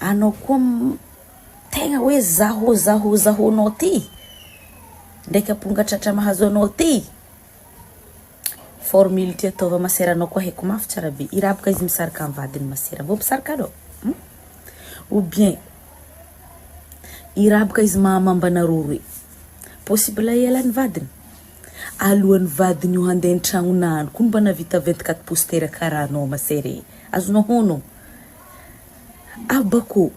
Anao koa tegna hoe zahô zahô zahô nao ty ndraiky aponga tratra mahazo anao ty. Formule ty ataova masera anao koa haiko mafy tsara be i raha boka izy misaraka am vadiny masera vô misaraka anao hum ou bien i raha boka izy maha mamba anareo roe possible hiala ny vadiny alohan'ny vadiny io hande ny tragnona any ko mba navita vingt quatre pouces tera kara anao masera e azonao honogno. Abako,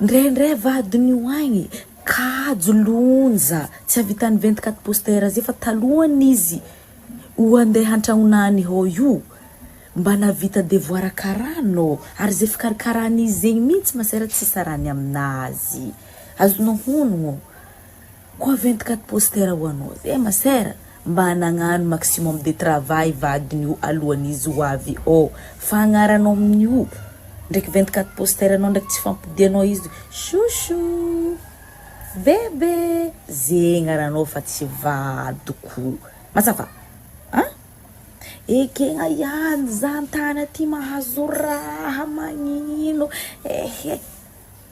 ndraindray vadiny ho agny, kajo lonja tsy avitan'ny vingt quatre poster zay fa talohan'ny izy ho andeha hantragnona any hô io mba navita devoara karana ô ary zay fikarikaran'izy zegny mintsy masera tsy sarany aminazy azonao honogno. Quoi 24 poster ho anao zay ma sœur mba nagnano maximum de travail vadin'io alohan'izy ho avy ôo fa agnaranao amin'io ndraiky 24 poster nao ndraiky tsy fampodianao izy chouchou bebe ze agnaranao fa tsy vadiko mazava a! Ekegna ihany zany tany aty mahazo raha magnino ehe.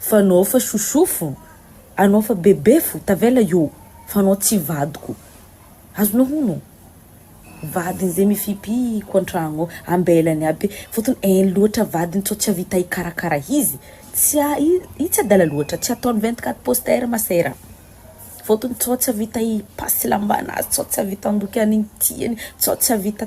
Fa anao fa sosofo, anao fa bebefo, tavela io fa anao tsy vadiko. Azonao hono? Vadiny zay mifipiko antragno ao, ambelany aby fotony en loatra vadiny sao tsy avita hikarakara izy, tsy a i i tsy adala loatra, tsy ataony vingt quatre poster ma sœur a, fotony sao tsy avita hi passe lambanazy, sao tsy avita handoky an'igny tiany, sao tsy avita.